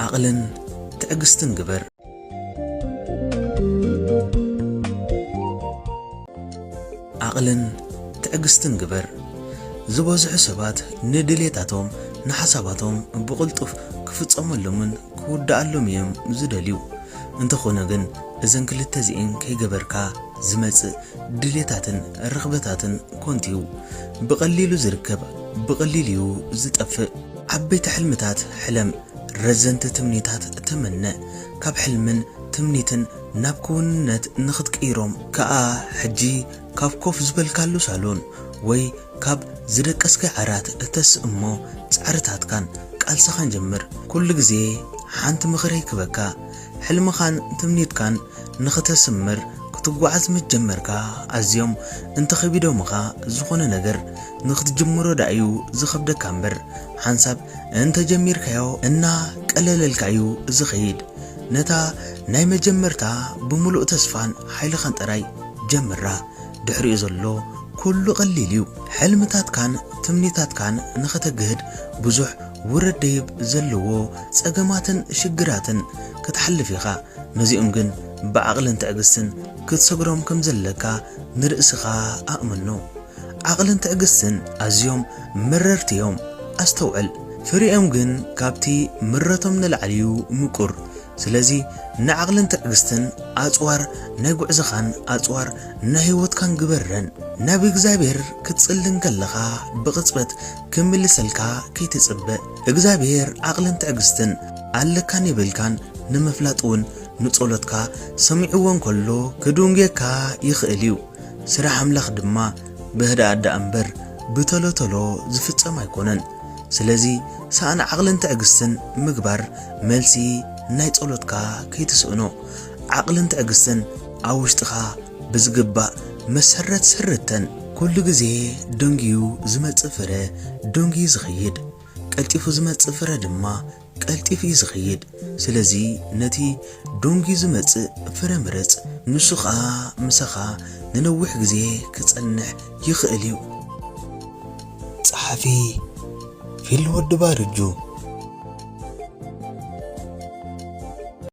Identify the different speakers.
Speaker 1: ዓቕልን ትዕግስትን ግበር። ዓቕልን ትዕግስትን ግበር። ዝበዝሑ ሰባት ንድሌታቶም፣ ንሓሳባቶም ብቕልጡፍ ክፍጸመሎምን ክውድኣሎም እዮም ዝደልዩ። እንተኾነ ግን እዘን ክልተ እዚኤን ከይገበርካ ዝመጽእ ድሌታትን ርኽበታትን ኮንቱ'ዩ። ብቐሊሉ ዝርከብ ብቐሊሉ'ዩ ዝጠፍእ። ዓበይቲ ሕልምታት ሕለም፣ ረዘንቲ ትምኒታት ተመነ፣ ካብ ሕልምን ትምኒትን ናብ ክውንነት ንኽትቅይሮም ከኣ ሕጂ ካብ ኮፍ ዝበልካሉ ሳሎን ወይ ካብ ዝደቀስካዮ ዓራት ተስእ እሞ ጻዕርታትካን ቃልስኻን ጀምር። ኩሉ ግዜ ሓንቲ ምኽሪ ክበካ። ሕልምኻን ትምኒትካን ንኽተስምር ክትጓዓዝ ምስ ጀመርካ ኣዝዮም እንተኺቢዶምኻ ዝኾነ ነገር ንኽትጅምሮ ደኣ'ዩ ዝኸብደካ እምበር ሓንሳብ እንተጀሚርካዮ እና ቀለለልካ እዩ ዝኸይድ። ነታ ናይ መጀመርታ ብምሉእ ተስፋን ሓይልኻን ጥራይ ጀምራ ድሕሪኡ ዘሎ ኩሉ ቀሊል እዩ። ሕልምታትካን ትምኒታትካን ንኸተግህድ ብዙሕ ውረድ ደይብ ዘለዎ ጸገማትን ሽግራትን ክትሓልፍ ኢኻ፣ ነዚኦም ግን ብዓቕልን ትዕግስትን ክትሰግሮም ከም ዘለካ ንርእስኻ ኣእምኖ። ዓቕልን ትዕግስትን ኣዝዮም መረርቲ እዮም፣ ኣስተውዕል። ፍሪኦም ግን ካብቲ ምረቶም ንላዕሊ እዩ ምቁር። ስለዚ ንዓቕልን ትዕግስትን ኣጽዋር ናይ ጉዕዞኻን ኣጽዋር ናይ ህይወትካን ግበረን። ናብ እግዚኣብሄር ክትጽሊ እንከለኻ ብቕጽበት ክምልሰልካ ከይትጽበ እግዛብሄር ዓቅልን ትዕግስትን ኣለካን የብልካን ንምፍላጥ ውን ንጾሎትካ ሰሚዕዎ እንከሎ ክዱንጌካ ይክእል እዩ ስራሕ ኣምላክ ድማ ብህድኣት ድኣ እምበር ብቶሎ ቶሎ ዝፍጸም ኣይኮነን ስለዚ ሳእን ዓቅልን ትዕግስትን ምግባር መልሲ ናይ ጾሎትካ ከይትስእኖ ዓቅልን ትዕግስትን ኣብ ውሽጥካ ብዝግባእ መሰረት ሰረተን። ኩሉ ግዜ ደንጊዩ ዝመጽእ ፍረ ደንጊዩ ዝኸይድ፣ ቀልጢፉ ዝመጽእ ፍረ ድማ ቀልጢፉ እዩ ዝኸይድ። ስለዚ ነቲ ደንጊዩ ዝመጽእ ፍረ ምረጽ፣ ንሱ ኸኣ ምሳኻ ንነዊሕ ግዜ ክጸንሕ ይኽእል እዩ። ጸሓፊ ፊልም ወዲ ባርጁ።